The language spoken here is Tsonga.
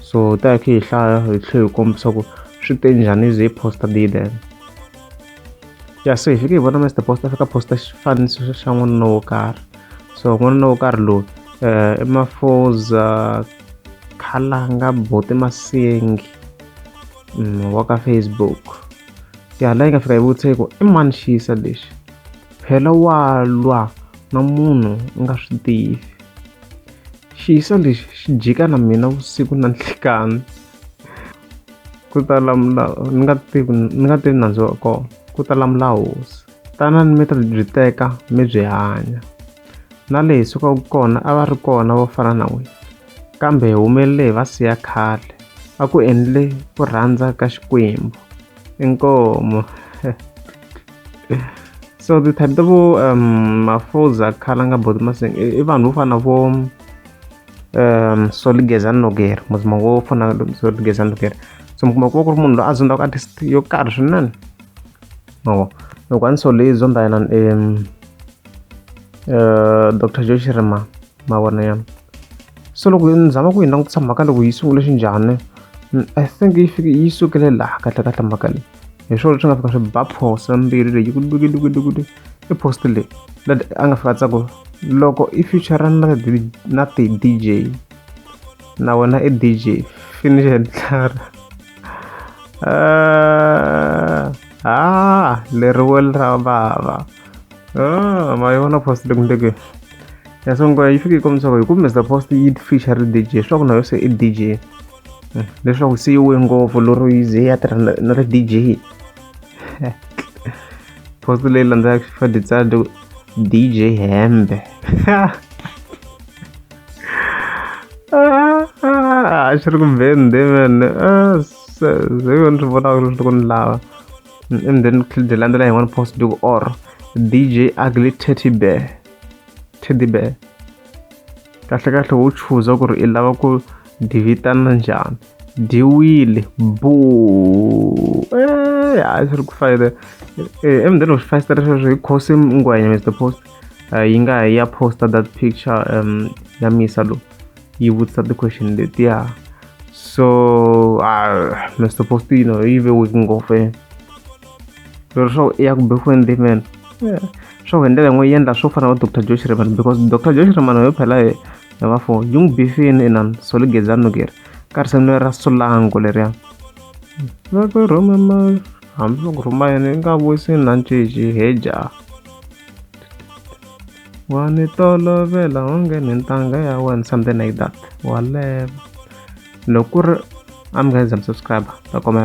so ta hi khe hi hlaya hi tlhe hi kombisa ku swi te njhani ze poster day then ya so hi fike hi vona mr poster fika poster xifaniso xa n'wanuna wo karhi so n'wanuna wo karhi lowu um i mafoza khalanga bote masengi mm, wa ka facebook ya laha yi nga fika yi vutise ku i mani xiyisa lexi phela wa lwa na munhu u nga swi tivi Xiso lexi xi jika na mina vusiku na nhlikani ku ta lamula ni nga tivi ni nga tivi nandzu wa kona ku ta lamula hosi tanani mi ta byi teka mi byi hanya na leyi sukaka kona a va ri kona vo fana na n'wina kambe hi humelele hi va siya khale a ku endle ku rhandza ka xikwembu inkomu so the type ta vo um, mafoza khala nga both maseng i e vanhu vo fana vo um soligeza noger muzima wo fana soligeza noger so mi kuma ku va ku ri munhu loyi a zondaku artist yo karhi swinene mavo loko a ni sole yi zonda yena um eh, dr joe shirima mavona ya so loko ni zama ku yi langutisa mhaka loko yi sungule xinjhani i think yi fike yi sukele laha kahle kahle mhaka leyi hi swona swi nga fika swi ba post na mbiri leyi kudukudukudukudu i post leyi lad a nga fika tsako loko i future na na ti dj na wena i dj finish and clar ah, ah leriwe ra vava ah ma yona post leyi kumbe ya sungula yi fike yi kombisa ku hi kumbe post yi feature dj swa ku na yo se i dj leswaku se yi we ngopfu lero yi ze ya tirha na na ri D_J post leyi landzelaka FIFA Decide D_J hembe a swi ri ku mbende man se ze yo ni swi vonaka leswi loko ni lava and then byi landzela hi one post loko or D_J ugly teddy bear teddy bear kahlekahle wo chuza ku ri i lava ku dyi vitana njhani dyiwile bo eh, hayi swi ri ku fayile eh, emundeni wa swifayisitara sweswo hi khosi ngwenya mr post eh, yi nga ha ya posta that picture um ya misa lowu yi vutisa ti-question letiya so uh, mr post you know yi ve weak ngopfu lero swa ku i ya ku be ku endimeni swa ku hi ndlela yin'we yi endla swo fana na doctor josh reman because doctor josh reman yo phela hi hi va fo yi n'wi bifini inan soli geza nukeri ka risimu leri ra sulango leriya va ku rhuma ma hambi va ku rhuma yini yi nga vuyisi na nciji he jaha wa ni tolovela onge ni ntanga ya wena something like that waleva loko ku ri a mi nga se za mi subscribe ta komela